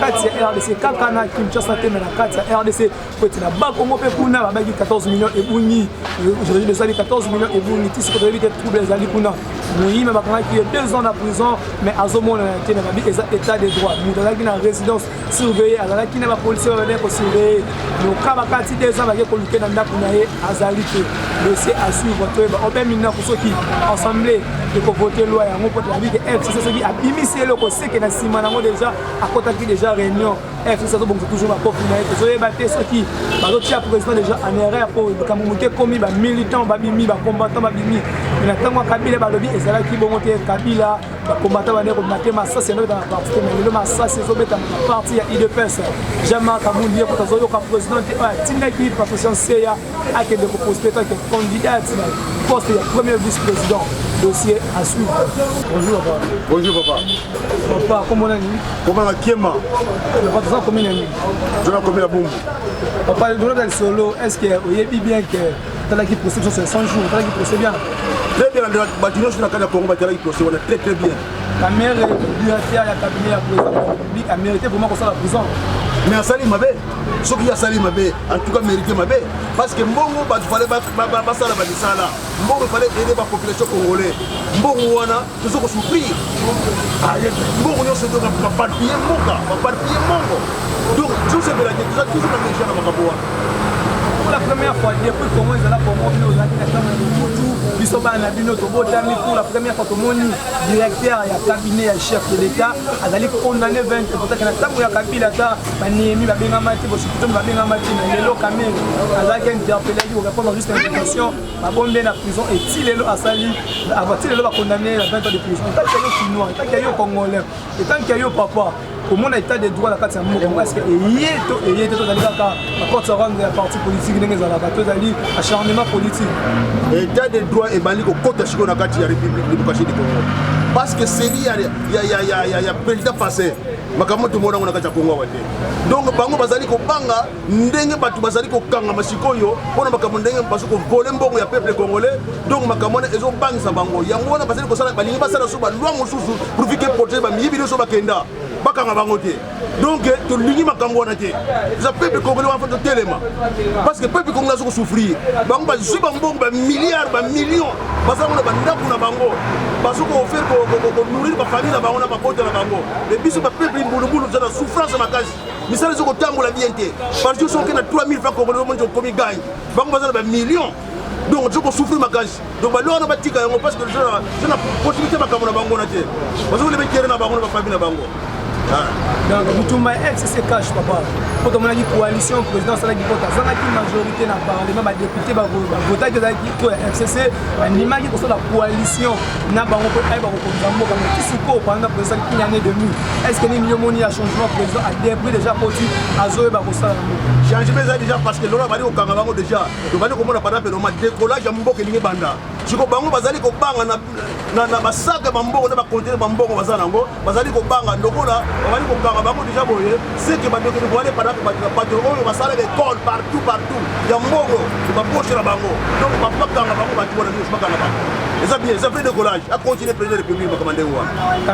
kati ya rdc kaka na kinshasa te me na kati ya rdc po ete na bakongo mpe kuna babaki 14 million ebungi aujourd'hui ezali 14 million ebungi ti siko toyebi te trouble ezali kuna moyime bakangaki ye deux ans na prison mais azomonana te na babi eza état de droit moto azalaki na résidence surveille azalaki na bapolisier babadai kosurveille loka bakati te eza bake koluke na ndako na ye azali te dossier à suivre toyeba obe minako soki assemblée ekovote loi yango mpo toyebi ke fcc soki abimisi eloko seke na nsima nango déjà akotaki déjà réunion fcc azobongisa toujours bakofi na ye tozoyeba te soki bazotia président déjà en erreur mpo likambo moke ekomi bamilitant babimi bacombattant babimi na ntango ya kabila balobi ezalaki bongo te kabila bakombata bandeko mate masasi yanobeta na parti te mai lelo masasi ezobetama na parti ya idps jean-marc amundi ye kuta azoyoka président te oyo atindaki patricien seya akende koposte kake candidate na poste ya premier vice président dossier à suivre bonjour papa bonjour papa papa kombo nani kombo na kiema papa toza komi na nini toza komi na bumbu papa tolobela lisolo est ce que oyebi bien que talaki procès biso 500 jours talaki procès bien très bien na bato nyonso na kati ya congo batalaki procès wana très très bien kamere liberté ya cabinet ya président public amérité vraiment kosala prison mais asali mabe soki asali mabe en tout cas mérité mabe parce que mbongo bato fale basala bamisala mbongo fale ede bapopulation congolais mbongo wana tozo ko souffrir mbongo nyonso donc baparpille mboka baparpille mbongo donc tozosepela te toza toujours na meja na makambo wana pour la première fois depuis congo ezala congo bino ozalaki na chambre ya mobutu biso bana na bino tobotami pour la première fois tomoni directeur ya cabinet ya chef de l'état azali condamné 20 potaki na ntango ya kabila ata baniemi babengama te bosukutoni babengama te na lelo kamere azalaki interpellaki korépondre juste invitation babombi ye na prison eti lelo asali ati lelo bakondamne ye na 20 ans de prison etanke yo kinois etanke yo congolais etanke yo papa komona etat de droit na kati ya mboka parce que eye to eye te tozali kaka bacote sarande ya parti politique ndenge ezalaka tozali acharnement politique etat de droit ebandi kokota sikoyo na kati ya république démocratie du congo parce que seli ya président passé makambo tomonango na kati ya kongo awa te donc bango bazali kobanga ndenge bato bazali kokangama sikoyo mpo na makambo ndenge bazo kovole mbongo ya peuple congolais donc makambo wana ezobangisa bango yango wana bazali kosala balingi basala so balwa mosusu profit ke protége bamiyibi nyonso bakenda bakanga bango te donc tolingi makambo wana te eza peuple congolais wana fa totelema parce que peuple congolais aza kosouffrir bango bazwi bambongo bamilliard bamillion baza yango na bandako na bango bazo koofere konourrir bafamille na bango na mabota na bango e biso bapeuple mbulubulu toza na souffrance makasi misala ezo kotambola bien te parce que soki na 3000 francs congolais omoni okomi gagne bango baza na ba millions donc tozo kosouffrir makasi donc bale wana batika yango parce que tona possibilité makambo na bango na te bazokole betere na bango na bafamille na bango donc bitumba ya ex se cache papa mpo tomonaki coalition président asalaki mpo tazangaki majorité na parlement badepute bavotaki ezalaki to ya fcc bandimaki kosala coalition na bango mpo ayeba kokonza mboka mais ti sikoyo panda président une année demi est ce que nini yo moni ya changement président adepris déjà koti azoyeba kosala na mboka changement eza déjà parce que lona bali kokanga bango déjà tobali komona panda mpe loma décollage ya mboka elingi banda siko bango bazali kobanga na basaka bambongo na bakontinent bambongo baza na yango bazali kobanga lokola babali kobanga bango deja boye seke bandokeli boale padaka bato oyo basalaka ekole partout partout ya mbongo baposhe na bango donc bakanga bango bato bona nyonso bakanga bango eza bien eza vrai décollage acontinue président république makambo ndenge wana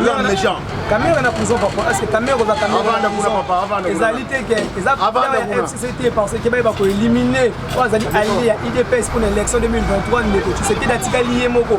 ya méchant kamere na prison papa est ce que kamere oza kamereezali te ke eza ya fcc te parce que baye bakoélimine oyo azali alie ya idps mpo na élection 2023 ndeko tshisekedi atikali ye moko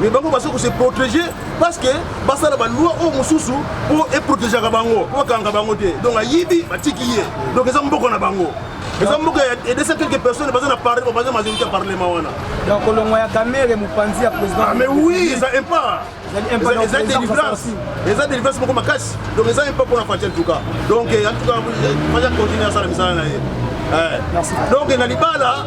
mais bango baza kose protéger parce que basala baloi oyo mosusu mpo eprotegeaka bango mpo bakanga bango te donc ayibi batiki ye donc eza mboka na bango eza mboka ya edesa quelque personne baza na parle baza majorité ya parlement wana donc kolongwa ya kamere mopanzi ya président ah, mais oui eza impa eza délivrance eza délivrance moko makasi donc eza impa mpona fati en tout cas donc en tout cas fati akontinue asala misala na ye eh. donc na libala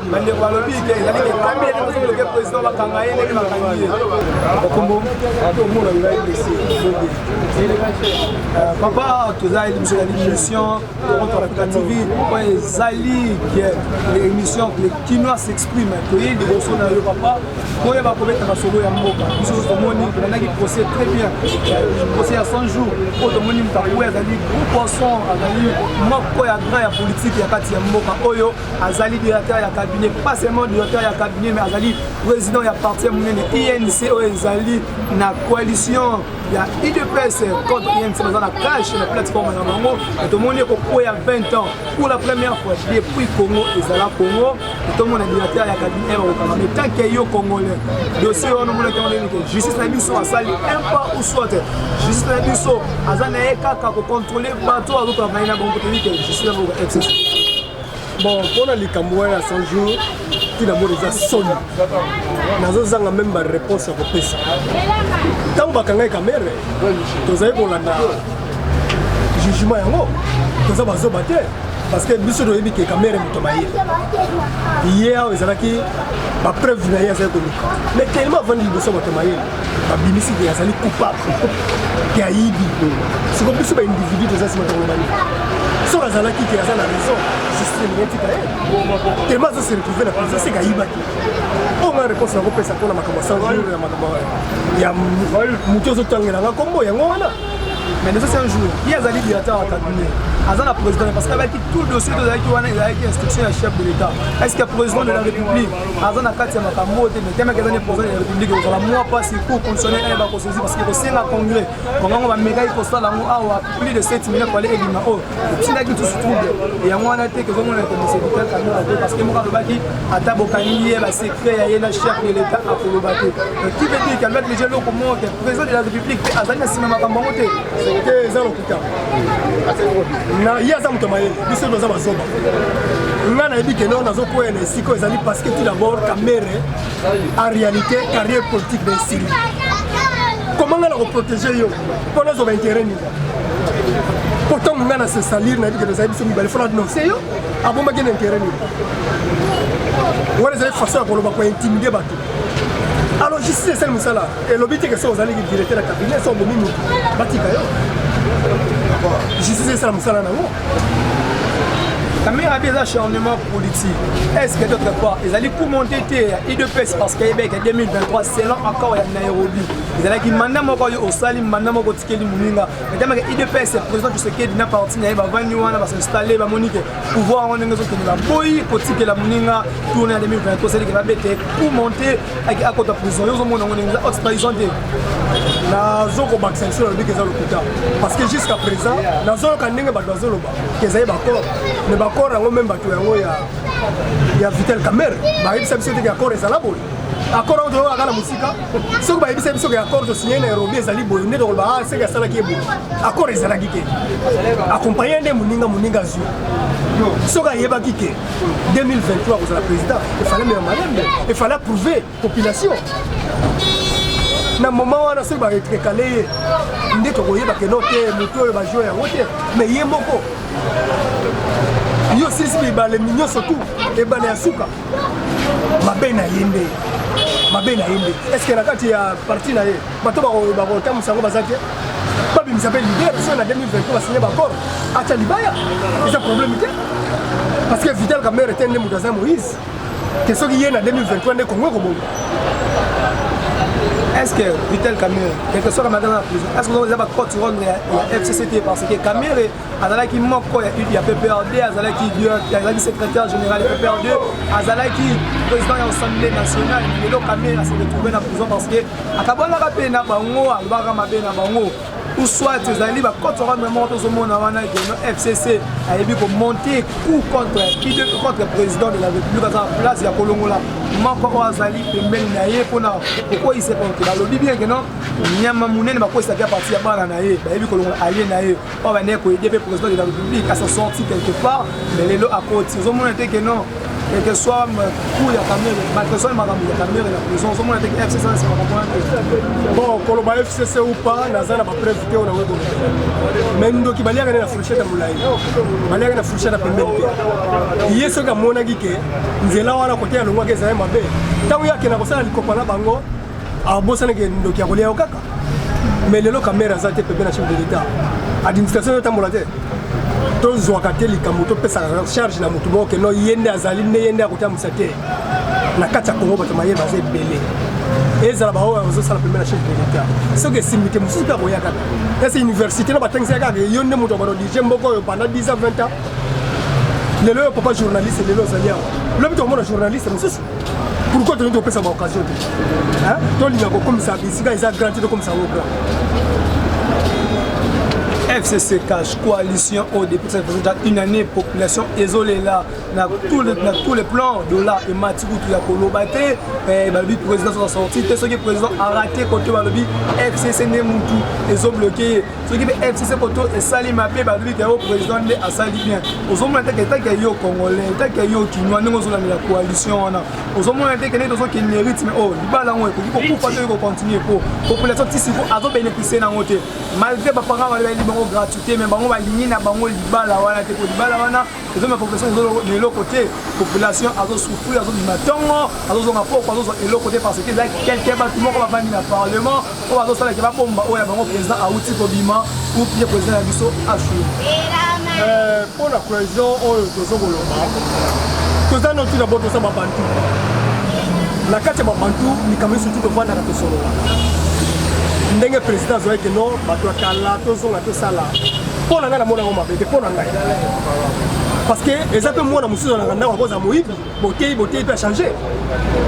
bandeko balobi te ezali ekambi ya ndenge ozoloke président bakanga ye ndenge bakangi ye bakombo omona ngai blessé euh, papa toza biso ezali mission toronto africa tv po ezali émission le kinois s'exprime toye liboso na yo papa oyo bakobeta masolo ya mboka biso tomoni tolandaki procès très bien procès ya 100 jours oyo tomoni moto akoya azali gros poisson azali moko ya grand ya politique ya kati ya mboka oyo azali directeur ya cabinet pas seulement directeur ya cabinet mais azali président ya parti ya monene inc oyo ezali na coalition ya udps contre inc baza na cache na plateforme na bango tomoni ekokweya 20 ans pour la première fois depuis congo ezala congo tomona directeur ya cabinet bakokanga mais tant que yo congolais dossier wana omonaki yango ndenge justice na biso asali un pas ou soit justice na biso aza na ye kaka kocontrole bato oyo azotala na ye na bango toyebi te je suis na bango ex bon mpona likambo wana ya 100 jour ntina mona eza soni nazozanga meme bareponse ya kopesa ntango bakangai kamere tozali kolanda jugement yango toza bazoba te parce que biso toyebi ke kamere moto maye ye awa ezalaki bapreuve na ye azali koluka mais tellement avandi liboso moto mayele babimisi ke azali coupable ke ayibi siko biso baindividu toza nsima tolobani soki azalaki ke aza na raison justiceetika ye tellement azo se retrouve na prison seke ayibaki oyo nga réponse nakopesa mpona makambo ya sanjour ya makambo ya motu ozotangela nga nkombo yango wana mais les autres jours ye azali directeur ya cabinet aza na président parce que abaki tout dossier tozalaki wana ezalaki instruction ya chef de l'état est ce que président de la république aza na kati ya makambo oyo te mais temeke eza ne président ya république ekozala mwa mpasi cour constitutionnel ayeba kosozi parce que kosenga congrès bango yango bamekaki kosala yango awa plus de 7 million pale elima oyo etindaki lisusu trouble yango wana te kozomona ete mosevital kamio abe parce que moko alobaki ata bokangi ye basecret ya ye na chef de l'état akoloba te qui veut dire qu'alobaki deja eloko moko te président de la république mpe azali na nsima makambo yango te na ye aza moto mayele biso toza bazoba nga nayebi kende oyo nazokwea na esika oyo ezali parce que tout d'abord kamere en réalité carrière politique na esili comment nga na koprotege yo mpo nazwa baintérêt nini pourtant nga na se salir nayebi kende ezali biso mibale fona denonce yo abombaki na intérêt nini wana ezali façon ya koloba kointimide bato alors justice esali mosala elobi te ke soki ozali directeur ya cabinet soki obomi motu batika yo justice esala mosala na yango kamera abi eza charnement politique est ce que d'autre part ezali kumonte te ya idps parce que ebeke 2023 selon accord ya nairobi ezalaki manda moko oyo osali manda moko otikeli moninga etamaka idps président tshisekedi na parti na ye bavandi wana basinstalle bamoni ke pouvoir yango ndenge ezokende baboyi kotikela moninga tourne ya 2023 esalike babete kumonte ake akota prison yo ozomona yango ndenge eza haute trahison te nazokobakisa lisusu nalobi ke eza lokuta parce que jusqu'à présent nazoyoka ndenge bato bazoloba ke ezali bakor mais bakor yango meme bato yango ya ya vitel camere bayebisa biso te ke akor ezala boye akor yango toyokaka na mosika soki bayebisa biso ke akor tosigne na erobi ezali boye nde tokoloba a ah, seke asalaki ye boye akor ezalaki te akompagne nde moninga moninga azwi soki ayebaki ke 2023 kozala président efale mema malembe efale approuve population na moment wana soki barekrekale ye nde tokoyeba keno te motu oyo bajoueur yango te mais ye moko yo osilisi bibale nyonso tu ebale ya suka mabe na ye nde mabe na ye nde estce na kati ya parti na ye bato bakotambusa yango baza te babimisa mpe lider so na 2020 mpo basigne bacor atya libaya eza problème te parce que vital kamere te nde moto aza moïse te soki ye na 2023 nde kongo ekobonga est ce que vital kamere quelque soit kamatana na prison est ce que eza bacote ronde ya fcct parce que kamere azalaki moko ya ya pprd azalaki azalaki secrétaire général ya pprd azalaki président ya assemblée nationale lelo kamere ase retrouve na prison parce que akabolaka mpe na bango alobaka mabe na bango ou soit ezali bacote rwanda moko tozomona wana geno fcc ayebi komonte coup contre idp contre président de la république aza na place ya kolongola moko oyo azali pembeni na ye mpona kokweyisa konte balobi bien geno nyama monene bakweyisaki ya parti ya bana na ye bayebi kolongola alie na ye oyo bandeki koyede mpe président de la république à sa sortie quelque part mais lelo akoti ozomona te que non quel que soit coup ya kamere malgré soit makambo ya kamere na prison ozomona te que fcc anasi makambo wana te bon koloba fcc ou pas naza na bapreuve te oyo nango ekoloba mais ndoki baliaka nde na fourchette ya molai baliaka na fourchette ya pembeni te ye soki amonaki ke nzela wana kote alongwaki ezali mabe ntango ye akenda kosala likopa na bango abosani ke ndoki ya kolia yo kaka mais lelo kamere aza te pepe na chef de l'état administration ezotambola te tozwaka te likambo topesaka charge na motu moko keno ye nde azali nde ye nde akotambwisa te na kati ya kongo bato maye baza ebele ezala baoyo bazosala pembe na chef de l'état soki esimbi te mosusu mpe akoya kaka ese université na batangisaka kaka yo nde moto akono dirige mboka oyo banda 10 ans 20 ans lelo yo papa journaliste lelo ozali awa lobi tokomona journaliste mosusu pourquoi tolingi topesa ba occasion te tolinga kokomisa bisika eza grand te tokomisa yango grand fcc cash coalition oyo depuis ça faisait déjà une année population ezolela na tous les na tous les plans dollar emati kutu ya koloba te eh, balobi président soza sorti te soki président arate kote balobi fcc nde mutu ezobloke ye soki mpe fcc koto esali mabe balobi ke o président nde asali bien ozomona teke etaki ya yo congolais etaki ya yo kinois ndenge ozolandela coalition wana ozomona teke nde tozokende rythme oyo oh, libala yango ekoki kokufa to ekocontinue po population tisiko azobénéficie nango te malgré baparent balobi bango gratuité mais bango balingi na bango libala wana te po libala wana eza na population na eloko te population azosouffrir azobima ntongo azozonga poko azozwa eloko te parce que eza quelque bato moko bavandi na parlement oyo azosalaki babomba oyo ya bango président auti kobima ou pire président ya biso ashu euh, mpo na cohésion oyo tozo koloba toza noti na bo toza babantu na kati ya babantu likambo esutu tofandaka tosolola ndenge président azoyaki no bato ya kala tozonga tosala mpo na ngai namona yango mabe te mpo na ngai parce que eza mpe mwana mosusu alaka ndako akozala moyibi boteyi boteyi mpe achange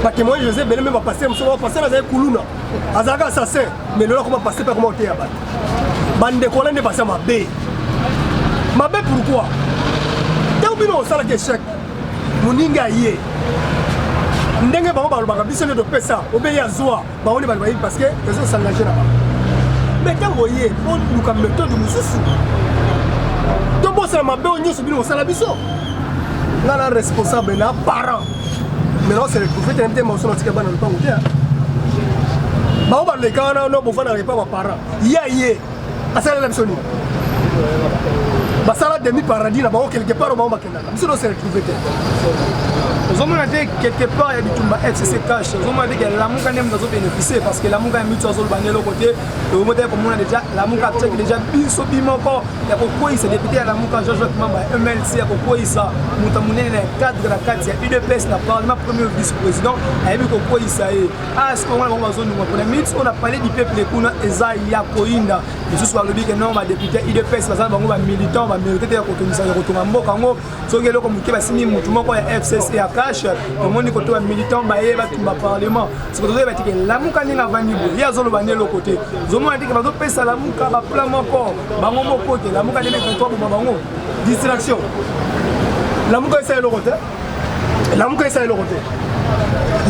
batemoin josé ebele mpe bapaster mosusu bapaster azali kuluna azalaka assassin mais lelo akoma paster mpe akoma koteya bato bandeko wana nde baza mabe mabe pourquoi ntango bino osalaki echec moninga ye ndenge bango balobaka biso nde topesa obe ye azwa bango nde bato bayebi parce que ezo s'engage na bango mais ntango oye oluka méthode mosusu tobosana mabe oyo nyonso bino kosala biso nga na responsable na parent mais nao se retrouve te na mitema mosusu natika bana lopango te bango baleka wana no bofandaka epa baparent ye aye asalela biso nini basala demi paradis na bango quelque part bango biso no se retrouve te ozomona te quelque part ya bitumba fcc cash ozomona te ke lamuka nde moto azobénéficie parce que lamuka ya mitu azoloba nde eloko te oyomotaki komona déjà lamuka apesaki déjà biso bimoko ya kokweyisa député ya lamuka jean jacques mamba ya mlc ya kokweyisa moto ya monene na cadre na kati ya udps na parlement premier vice président ayebi kokweyisa ye asikoyo ah, wana bango bazondunga mpona minute oyo na palais du peuple kuna eza ya koyinda misusu balobi ke non badepute ya udps baza na bango bamilitant bamérite te ya kotongisa ya kotonga mboka yango soki eloko moke basimbi motu moko ya fcc ya cash tomoni koto bamilitant baye batumba parlement siko tozoyeba tike lamuka ndenge avandi boye ye azoloba nde eloko te ozomona tike bazopesa lamuka baplan moko bango moko te lamuka nde mekanto aboma bango distraction lamuka esala eloko te lamuka esala eloko te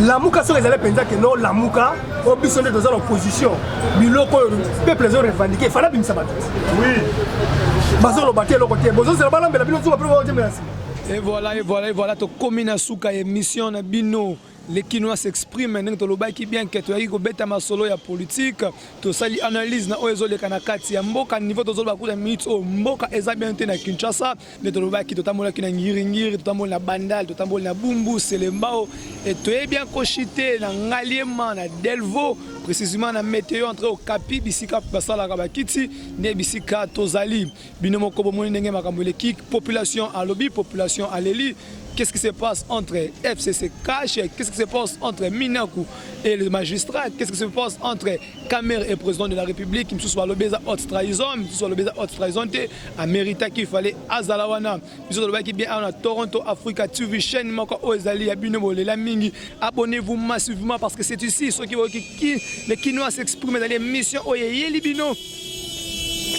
lamuka soki ezali mpenza kende olamuka po biso nde toza na opposition biloko oyo peuple ezo revendique efali abimisa bato bazoloba te eloko te bozozela balambela bino nsuka mpe baotemela nsima Et voilà, et voilà, et voilà, to komi na suka émission na bino les Kinois s'expriment ndenge tolobaki bien que toyaki kobeta masolo ya politique tosali analyse na oyo ezoleka na kati ya mboka niveau tozoloba kuta minute oyo mboka eza bien te na Kinshasa nde tolobaki totambolaki na ngiringiri totamboli na bandal totamboli na bumbu selembao e toyebi akoshi te na ngaliema na delvo précisément na météo entre okapi bisika basalaka bakiti nde bisika tozali bino moko bomoni ndenge makambo eleki population alobi population aleli Qu'est-ce qui se passe entre FCC Cash Qu'est-ce qui se passe entre Minaku et le magistrat Qu'est-ce qui se passe entre Kamerhe est président de la République, misusu balobi eza haute trahison, misusu balobi eza haute trahison te, ameritaki il fallait azala wana. Biso tolobaki bien awa na Toronto Africa TV chaîne moko oyo ezali ya bino bolela mingi. Abonnez-vous massivement parce que c'est ici soki oyoki ki le kinois s'exprime ezali émission oyo eyeli bino.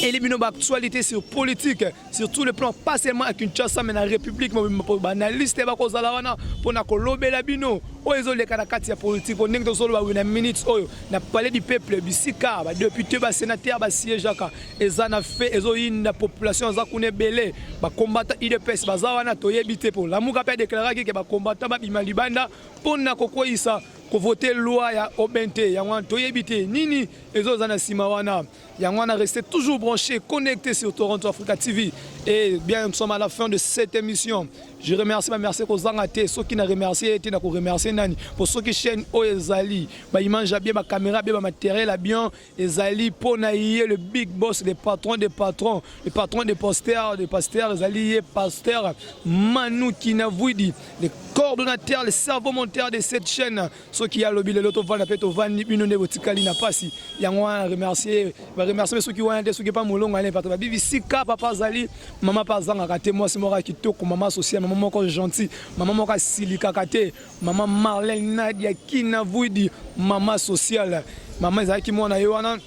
Eyeli bino ba actualités sur politique. sur tout le plan pas seulement à Kinshasa mais na République mobimba banaliste bakozala wana mpo na kolobela bino oyo ezoleka na kati ya politike mpo ndenge tozoloba wi na minutes oyo na palais du peuple bisika badepute basénateur basiégeaka eza na fe ezoyinda population aza kuna ebele bakombata udps baza wana toyebi te mpo lamuka mpe adeklaraki ke bakombata babima libanda mpo na kokweyisa kovote loi ya obn te yango wana toyebi te nini ezoza na nsima wana Yango wana restez toujours branché, connecté sur Toronto Africa TV. Et bien, nous sommes à la fin de cette émission. Je remercie ma merci kozanga te soki na remercier te na ko remercier nani pour soki chaîne oyo ezali ba image bien ba caméra bien ba matériel bien ezali pour na ye le big boss le patron des patrons le patron des posters des pasteurs ezali ye pasteur Manu Kinavwidi le coordonnateur le cerveau monteur de cette chaîne soki ye alobi lelo tovanda mpe tovandi bino nde botikali na mpasi yango wana remercie baremercie soki wana te soki epa molongo ane bato babi bisika papa azali mama mpe azangaka te mwasi moko ya kitoko mama social mama moko gentil mama moko asilikaka te mama marlene nadia kina vuidi mama sociale mama ezalaki mwana ye wana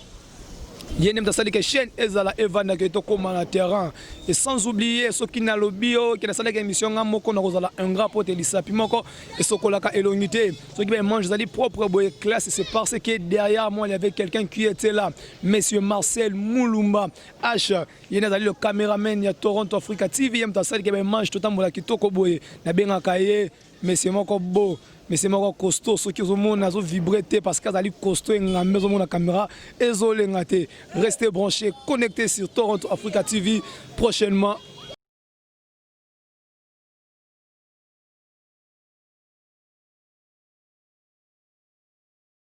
ye nde moto asali ke chaîne ezala evanda ke tokóma na terrain et sans oublier soki nalobi yo ke nasalaki émission nga moko nakozala ingrat mpo te lisapi moko esokolaka elongi te soki baemange ezali propre boye classe c'est parce que derrière moi il y avait quelqu'un qui était là monsieur marcel mulumba h ye nde azali le cameraman ya toronto africa tv ye moto asali ke baemange totambola kitoko boye nabengaka ye Monsieur moko beau, monsieur moko costaud, soki ozomona azo vibrer te parce que azali costaud engambe ozomona caméra ezolenga te. Restez branchés, connectés sur Toronto Africa TV prochainement.